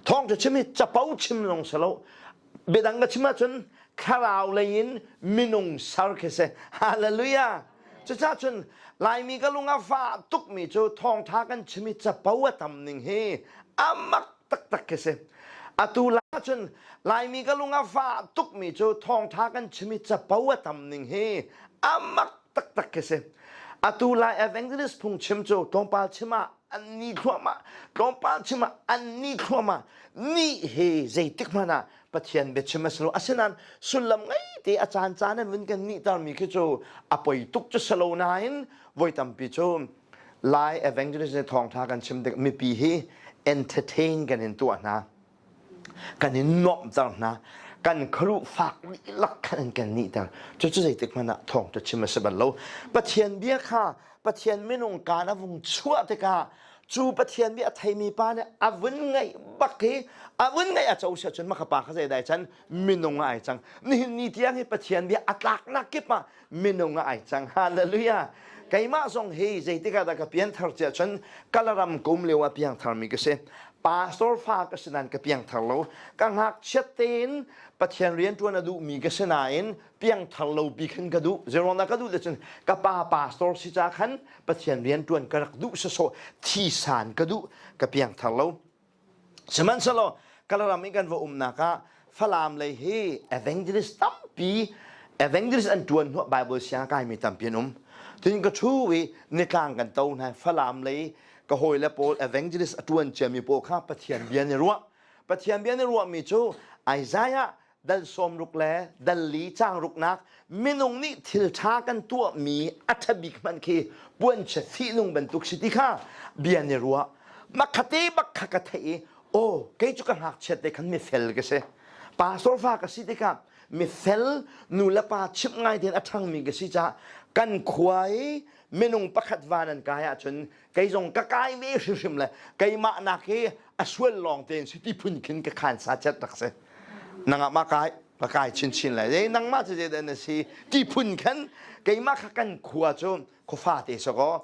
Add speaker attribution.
Speaker 1: thawng cu chim hi capo chim lawng si lo biadang ka chim ahcun thlarau lei in minung ser khi si hallelujah cucah cun laimi ka lung a fa tukmi cu thawngtha kan chim i capo a tam ning hi amak taktak khi si atu la cun laimi ka lung a fa tukmi cu thawngtha kan chim i capo a tam ning hi amak taktak khi si atu lai evangelist phung chim cu tlawmpal chim ah an ni thluahmah tlawmpal chim ah an ni thluahmah ni he zeitik hmanh ah pathian biachim a si lo asinain sullam ngei te a caan caan in vun kan nih tarmi khi cu a poi tuk cu si lo nain voi tampi cu lai evangelist nih thawngtha kan chim tik mipi hi entertain kan in tuah hna kan in nuamhter hna kan khuaruh fak lak khan in kan nihter cucu zeitik hmanh ah thawngṭa chim a si bal lo pathian bia kha pathian minung kaan a vung chuah tikah cu pathian bia a theimi pa nih a vun ngaih bak i a vun ngaih a co si ahcun maka pa kha zeidai can minung ah ai cang nihin ni tiang hi pathian bia a tlaknak kip ah minung ah ai cang hallelujah keimah zong hi zeitik ah dah ka pianthar cia chun kalaram kum leo a piangthar mi ka si pastor fa ka si nan ka piangthar lo ka ngakchiat tein pathian rian tuan a duh mi ka si nain piangthar lo pi khan ka duh zerona ka duh le cun ka pa pastor si ca khan pathian rian tuan ka rak duh saso thi san ka duh ka piangthar lo Sihmanhsehlaw Kalaram i kan va umnak ah Falam lei hi evangelist tampi evangelist an tuan hnuah Bible siang kaimi tampi an um. Tiin ka thu i nitlang kan to hna Falam lei ka hawi le pawl evangelist a tuan ciami pawl kha Pathian bia nih ruah. Pathian bia nih ruahmi cu Isaiah Dan sawmruk le dan li changruknak minung nih thil ṭha kan tuahmi a ṭha bik hmanh khi puanchia fihnung bantuk si ti kha bia nih ruah makhat i bakha ka theih i aw kei cu ka ngakchiat te khan mifel ka si pastor fa ka si tikah mifel nu le pa chimh ngai tein a ṭhangmi ka si caah kan khua i minung pakhat van an kai ahcun kei zong ka kai ve hrimhrim le keimah nak hi a sual lawng tein si ti phun khin ka khan sa chet rak si nangah ma kai ka kai chin chin lai e nangmah cu je na si ti phun khan keimah kha kan khua cu khufa te so ko